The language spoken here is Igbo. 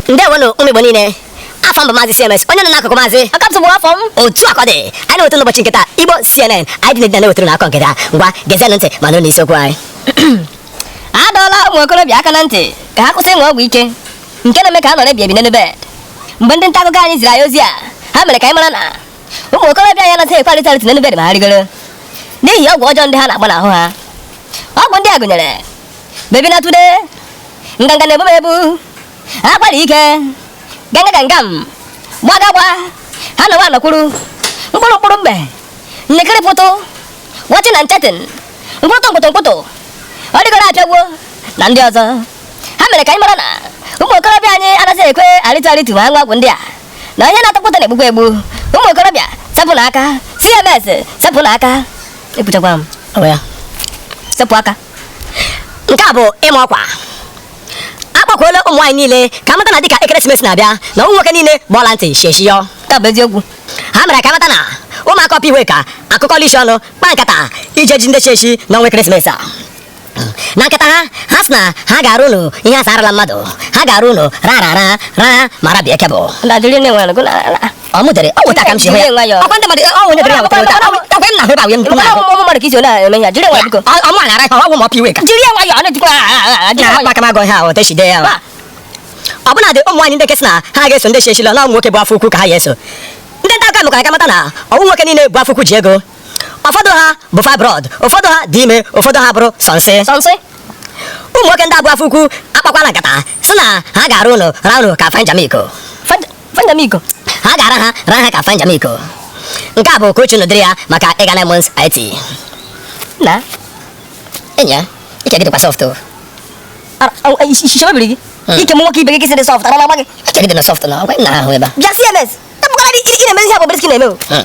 ndewonụ ụmụ igbo niile afa m bụ maazị cms onye nọ n'akụkụ maazị ọkapsụ bụ afa m otu akụkọ ndị anyị na-ewetara n'ụbọchị nke taa igbo cnn anyị dị n'edina na-ewetara unu akụkọ nke taa ngwa gezienụ ntị ma nụrụ n'isiokwu anyị a dọọla ụmụ okorobịa aka na ntị ka ha kwụsị ịṅụ ọgwụ ike nke na-eme ka a nọrọ ebi ebi n'elu bed mgbe ndị nta akụkọ anyị ziri anyị ozi a ha mere ka anyị mara na ụmụ okorobịa anyị anaghị ekwe arịtu arịtu n'elu bed ma ha rịgoro n'ihi ọgwụ ọjọọ ndị ha na-agba n'ahụ ha ọgwụ ndị a gụnyere baby na today nganga na-ebu m ebu akwara ike ganga ganga m gbagagba ha nọwa anọkwuru mkpụrụ mkpụrụ mgbe nnekiri pụtụ wọchị na nchetin mkpụtụ mkpụtụ mkpụtụ ọ rịgoro apịagwo na ndị ọzọ ha mere ka anyị mara na ụmụ okorobịa anyị anaghị ekwe arịtu arịtu ma ha ṅụọ ọgwụ ndị a na ihe na-atọ ụtọ na-egbukwa egbu ụmụ okorobịa sepụnụ aka cms sepụnụ aka ekwuchakwa m sepụ aka nke a bụ ịma ọkwa a kpọkuola ụmụ nwaanyị niile ka a mata na dịka ekeresimesi na-abịa na ụmụ nwoke niile bụ ọla ntị shieshiyọ nke a bụ eziokwu ha mere ka a mata na ụmụaka upper iweka akụkọọla isi ọnụ kpa nkata ije ji ndị chiechi n'ọnwa ekeresimesi a na nkata ha ha sị na ha ga-ara unu ihe a si ara mmadụ ha ga-ara unu ra ra ra ra ma rabie cable ọ mụ dere ọ wụ otu a ka m si hụ ya ọkwa ndị mmadụ ọ nwunye dere ya wetara ụta ọkwa m na-ahụ ebe ahụ ya nnukwu na-ahụ ụmụ mmadụ ka isi ole eme ya jiri nwa biko ọ mụ na-ara ka ọ wụ ma ọ pịwe ka jiri nwa ya ọ na-ejikwa na aka m agụ ihe ahụ otu e si dee ya ọ bụla dị ụmụ nwaanyị ndị kesị na ha ga-eso ndị chechila na ụmụ nwoke bu afọ ukwu ka ha ya-eso ndị nta akụkọ mekwara ka a mata na ọ wụ nwoke niile bu afọ ukwu ji ego ụfọdụ ha bu fibroid ụfọdụ ha dị ime ụfọdụ ha bụrụ sọnsị sọnsị ụmụ nwoke ndị a bu afọ ukwu akpakwala nkata sị na ha ga-ara unu ra unu ka fanjamiko Fanjamiko. Ha ga-ara ha ra ha ka Fanjamiko. Nke a bụ oke uchu n'ụdịrị ya maka ịga na Mons IT. Na. Enyi a, ike gị dịkwa soft o. Ishichebe biri gị. Hmm. Ike m nwoke ibe gị gị sị dị soft, ara na-agba gị. Ike gị dị na soft na ọgwa nna ha ahụ ebe a. Bịa CMS, tapụkwara ị na-emezi ihe Bobrisky na-eme o. Hmm.